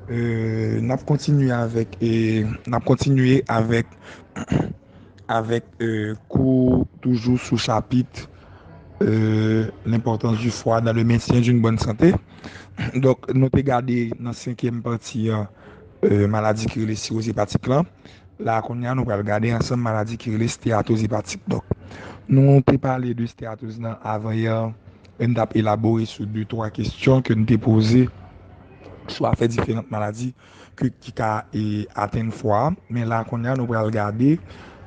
Euh, n ap kontinye avèk, n ap kontinye avèk, avèk euh, kou toujou sou chapit euh, L'importance du foie dans le maintien d'une bonne santé. Donk, nou te gade nan senkyèm pati an, Maladi ki rele siwoz epatik lan la a kounye a nou pral gade ansanm maladi ki rele steyatoz epatik donk nou te pale de steyatoz lan avan yè lè n t ap elabore sou de twa kesyon ke n te poze sou afè diferant maladi ki ka atenn fwa a men la a kounye a nou pral gade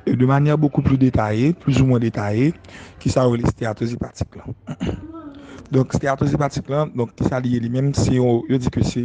de manyè bokou pli detaye plizoumwen detaye ki sa yo rele steyatoz epatik lan donk steyatoz epatik lan donk ki sa li ye li menm se yo di ke se.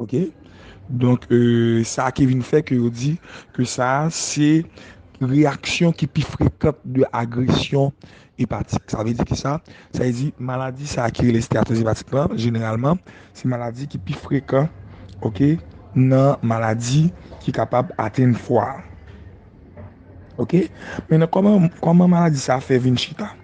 Ok donk sa ki vin fè ke yo di ke sa se reyaksyon ki pi frekant de agresyon epatik. Sa vle di ki sa? Sa vle di maladi sa ki rele steyatoz epatik la jeneralman se maladi ki pi frekan ok nan maladi ki kapab atenn fwa a. Ok men nan kòman maladi sa fè vin chita?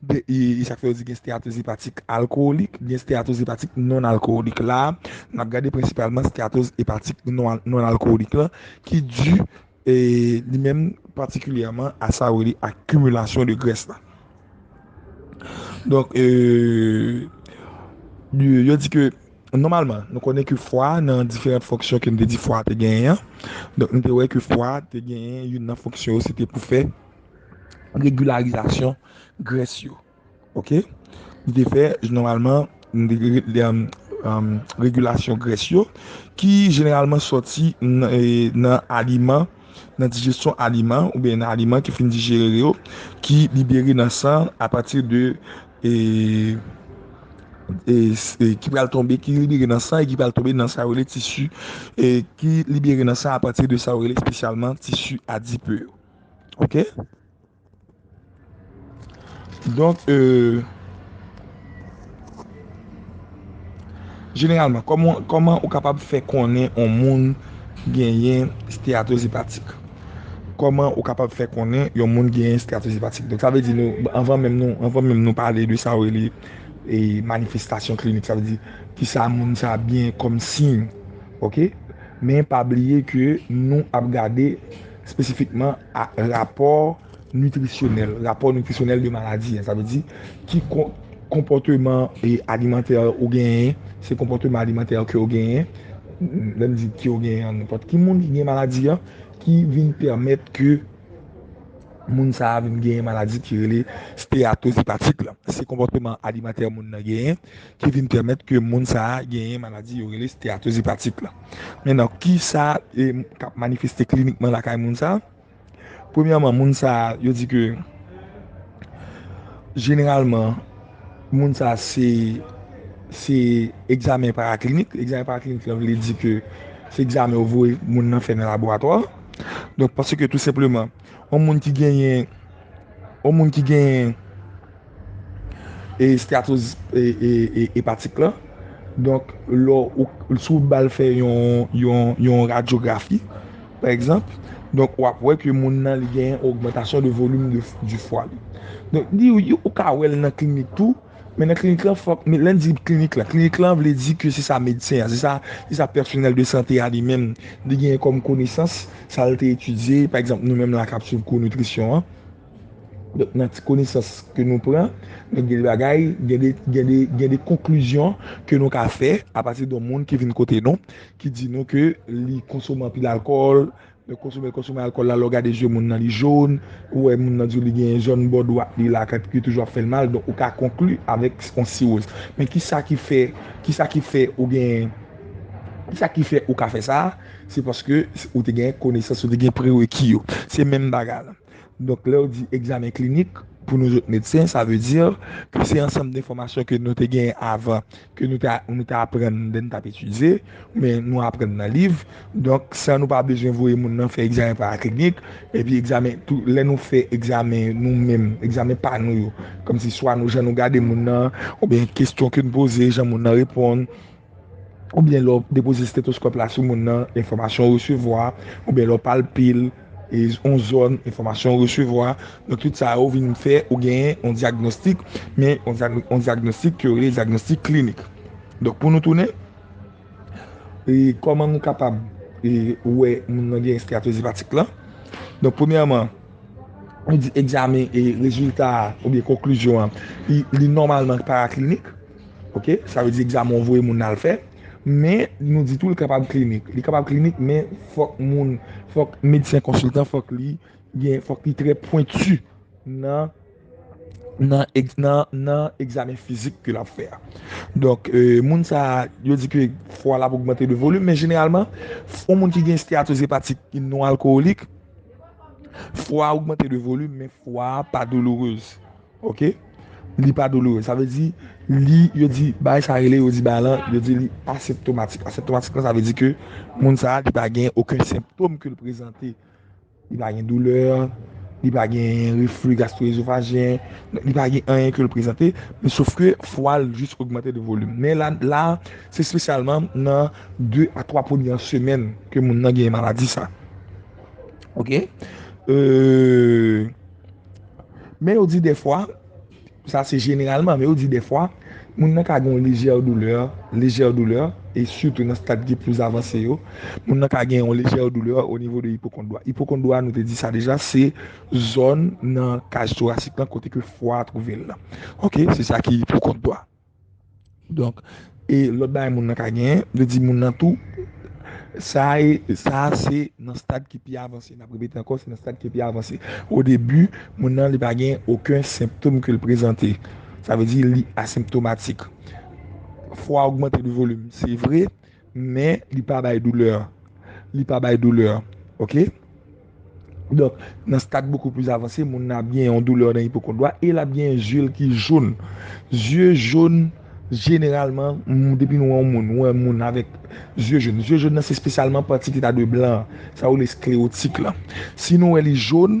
2 e sa k fè yo di gen steatos epatik alkowolik, gen steatos epatik non-alkowolik. La a, n ap gade prensipalman steatos epatik non-alkowolik lan ki di li menm patikilyèman a sa yo rele akimilasyon de grès la. Donk, yo di ke nòmalman, nou konnen ke fwa nan diferant fonksyon ke nou te di fwa te genyen an, donk nou te wè ke fwa te genyen youn nan fonksyon yo se te pou fè regularizasyon gress yo ok nou te fè normalman regulasyon gress yo ki jeneralman soti nan aliman nan dijesyon aliman ou byen nan aliman ki fin dijere yo ki libere nan san a pati de e ki pral tonbe ki libere nan san e ki pral tonbe nan sa yo rele tisi e ki libere nan san a pati de sa yo rele spesyalman tisi adipe yo. Ok. Donk e. Jeneralman, koman ou kapab fè konnen ou moun genyen steatoz epatik? Koman ou kapab fè konnen yon moun genyen steatoz epatik? Donk sa vle di nou, anvan menm nou, anvan menm nou pale de sa ou rele e manifestasyon klinik, sa vle di ki sa moun sa genyen kòm siy. Ok. Men pa bliye ke nou ap gade. Espesifikman a rapò nitrisyonèl, rapò nitrisyonèl de maladi, sa vle di ki konpòteman alimantè ou genyen, se konpòteman alimantè ke ou genyen, lè m di ke ou genyen an, nenpòt ki moun ki gen maladi an, ki vin pèmèt ke moun sa a vin genyen maladi ki rele steyatoz epatik la. Se konpòteman alimantè moun nan genyen, ki vin pèmèt ke moun sa a genyen maladi yo rele steyatoz epatik la. Men nan ki sa k ap manifeste klinikman lakay moun sa a? Premyèman, moun sa a, yo di ke jeneralman moun sa a se se egzamen paraklinik, egzamen paraklinik la vle di ke se egzamen yo voye moun nan fè nan laboratwa, donk paske tou senpleman. Yon moun ki genyen Yon moun ki genyen Esteatozis epatik la Donk lò Si w ba l fè yon radyografi Pa egzanp Donk w ap wè ke moun nan li genyen ogmantasyon de volim di fwa li Donk li ou ka wè l nan klinik tou Men nan klinik lan fòk, men lè n di klinik lan, klinik lan vle di ke se sa medsen an, se sa, se sa pèsonèl de sante a li menm li genyen kòm konesans, sa l te etidye, pa egzanp nou menm la k ap suiv kou nitrisyon an, donk nan ti konesans ke nou pran, men gen de bagay, gen de, gen de, gen de konklizyon ke nou ka fè apati de yon moun ki vin kote nou, ki di nou ke li konsome anpil alkòl, Yo konsome konsome alkòl la lè w gade je moun nan li jone, ou wè moun nan di w li gen zòn bò dwat li la kap ki toujou ap fè l mal donk ou ka konkli avèk yon siwoz. Men kisa ki fè kisa ki fè ou gen kisa ki fè ou ka fè sa a se paske ou te gen konesans ou te gen prereki yo se menm bagay la Donk lèw di egzamen klinik pou nou zot medsen sa vle di ke se ansanm denfòmasyon ke nou te genyen avan ke nou ta nou ta aprann lè nou tap etidye ou byen nou aprann nan liv donk san nou pa bezwen voye moun nan fè egzamen paraklinik epi egzamen tou lè nou fè egzamen nou menm egzamen pa nou yo kòmsi swa nou jan nou gade moun nan ou byen kestyon ke nou poze jan moun nan reponn. oubyen lè w depoze stetoskòp la sou moun nan, enfòmasyon w resevwa, oubyen lè w palpe l, yon zòn, enfòmasyon w resevwa. Donk tout sa yo vin fè ou genyen yon dyagnostik, men yon dyagnostik ke yo rele dyagnostik klinik. Donk pou nou tounen, kòman nou kapab wè moun nan gen esteyatroz epatik lan? Donk premyèman, nou di egzamen e rezilta a oubyen konklizyon an, li nòmalman paraklinik. Ok, sa vle di egzamen ou voye moun al fè, men nou di tou li kapab klinik. Li kapab klinik men fòk moun, fòk medsen konsiltan fòk li gen, fòk li trè pwentu nan, nan egz, nan, nan egzamen fizik ke lap fè a. Donk, moun sa, yo di ke fwa l ap ogmante de volim, men jeneralman, yon moun ki gen steyatoz epatik ki non alkowolik, fwa ogmante de volim men fwa pa doulourez. Ok li pa douloure sa vle di li yo di bagay sa rele yo di bagay lan yo di li aseptomatik aseptomatik lan sa vle di ke moun sa li pa gen oken senptom ke li prezante li pa gen doulè li pa gen reflux gastro-esophagean li pa gen anyen ke li prezante men sof ke fwa l jis ogmante de volim men la la se spesyalman nan 2 a 3 premyè semèn ke moun nan gen maladi sa ok eee. Men yo di dèfwa, sa se jeneralman, men yo di dèfwa, moun nan ka gen yon lejè doulè, lejè doulè, e sitou nan stad ki plis avanse yo, moun nan ka gen yon lejè doulè o nivo de ipokondwa. Ipokondwa, nou te di sa deja, se zòn nan kaj torasik lan kote ke fwa a twouve l lan. Ok, se sa ki ipokondwa. Donk, e lòt bagay moun nan ka genyen, vle di moun nan tou, sa e, sa a se nan stad ki pi avanse, nap repete ankò, se nan stad ki pi avanse. O debi, moun nan li pa gen oken senptom ke l prezante. Sa vle di li asenptomatik. Fwa ogmante de volim, se vre. Men li pa bay doulè. Li pa bay doulè. Ok? Donk, nan stad bokou plis avanse, moun nan ap gen yon doulè nan ipokondwa e l ap gen zye l ki joun. Zye joun, jeneralman, depi nou wè yon moun, nou wè moun avèk zye joun. Zye joun nan se espesyalman pati ki ta dwe blan an. Sa yo rele sklewotik lan. Si nou wè li joun.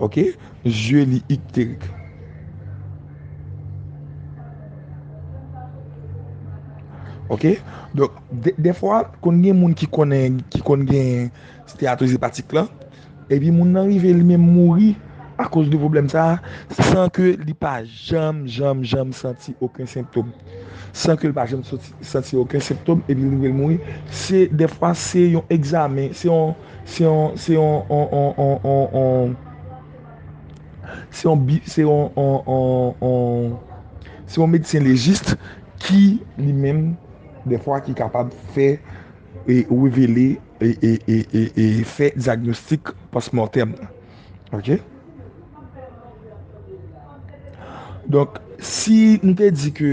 Ok zye li ikterik. Ok donk defwa konn gen moun ki konnen ki konn gen steatoz epatik lan epi moun nan rive li menm mouri akoz de pwoblèm sa san ke li pa janm janm janm santi oken sentom san ke li pa janm santi oken sentom epi li rive mouri se defwa se yon egzamen se yon Se yon se yon on on on on on se yon bi se yon on on on se yon medsen lejis ki li menm dèfwa ki kapab fè e revele e e e e e fè dyagnostik pòsmòtèm nan ok donk si nou te di ke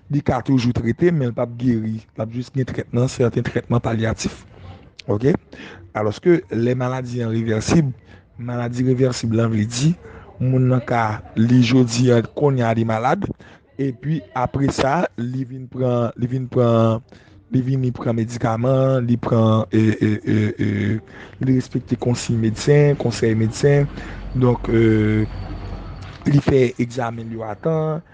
Li ka toujou trete men li pap geri. Lap jis gen trètman, sèten trètman palyatif. Ok? Alòske lè maladi an revèsib, maladi revèsib lan vle di, moun nan ka li jodi an, kounye a li malad, epi apre sa, li vin pran, li vin pran, li vini pran medikaman, li pran, e, e, e, e, li respekte konsiy medsen, konsèy medsen, donk, e, li fè egzamen l yo a tan,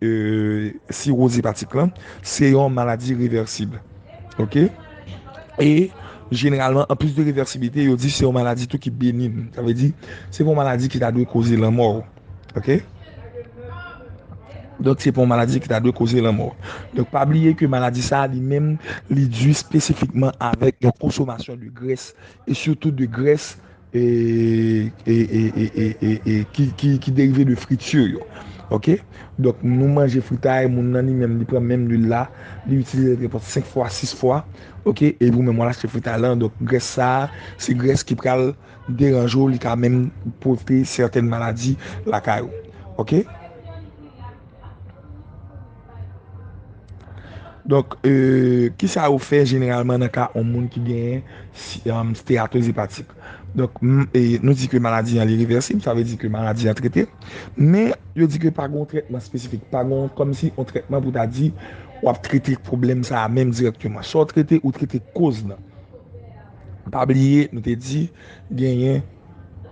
Siroz epatik lan se yon maladi revèsib ok e jeneralman an plis de revèsiblite yo di se yon maladi tou ki benin sa vle di se pa yon maladi ki ta dwe koze lanmò ou ok donk se pa yon maladi ki ta dwe koze lanmò ou donk pa bliye ke maladi sa li menm li di spesifikman avèk yon konsomasyon de grès e sitou de grès ki derive de friture yo ok donk nou manje fritay moun nan li menm li pran menm lwil la li itilize li pran 5 fwa 6 fwa ok e nou menm wal achte fritay lan donk grès sa se grès ki pral deranje w li ka menm pote sèten maladi lakay ou ok. Donk, ki sa yo fè jeneralman nan ka yon moun ki gen steatoz epatik? Donk, nou di ke maladi an li revèsib, sa vle di ke maladi an trete, men yo di ke pa gen yon trètman espesifik, pa gen yon kòm si yon trètman pou ta di w ap trete pwoblèm sa a menm dirèkteman. Sa w trete, ou trete koz lan. Pa bliye nou te di genyen.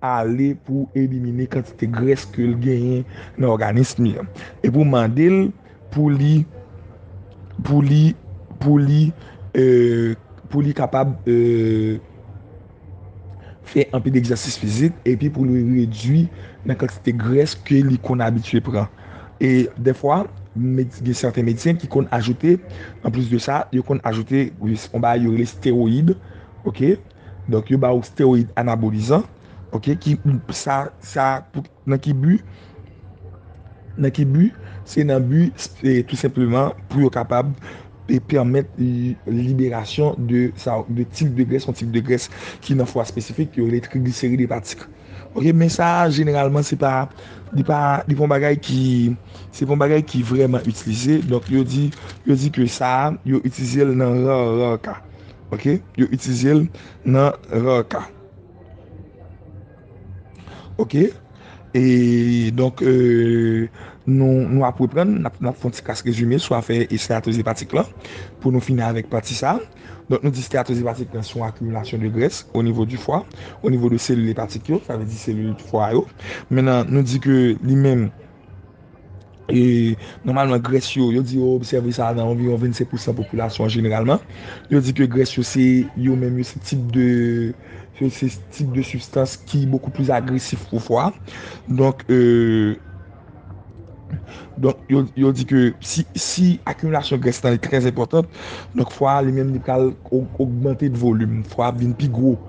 ale pou elimine kantite grès ke l genyen nan òganism li an e pou mande l pou li pou li pou li pou li kapab fè anpil egzèsis fizik epi pou li redui nan kantite grès ke li konn abitye pran e dèfwa gen sèten medsen ki konn ajoute anplis de sa yo konn ajoute on bagay yo rele steroyid ok. Donk yo ba ou steroid anabolizan ok ki sa sa nan ki bi nan ki bi se nan bi tou senpleman pou yo kapab e pèmèt liberasyon de sa de tip de grès yon tip de grès ki nan fwa espesifik yo rele trigliserid epatik ok men sa jeneralman se pa li pa li pa yon bagay ki se pa yon bagay ki vreman itilize donk yo di yo di ke sa yo itilize l nan rar rar ka. Ok yo itilize l nan rar ka. Ok e donk nou ap reprann nap fon ti kas rezime sou afè esteyatoz epatik lan pou nou fini avèk pati sa. Donk nou di esteyatoz epatik lan se yon akimilasyon de grès o nivo di fwa, o nivo de selil epatik yo, sa vle di selil fwa yo. Mennan nou di ke li menm. E nòmalman grès yo, yo di yo obsève sa nan anviwon 25 pousan popilasyon an jeneralman. Yo di ke grès yo se yo menm yo se tip de yo se tip de sibstans ki bokou plis agresif pou fwa. Donk yo di ke si akimilasyon grès la li trè enpòtan, donk fwa li menm li pral ogmante de volim, fwa ap vin pi gwo.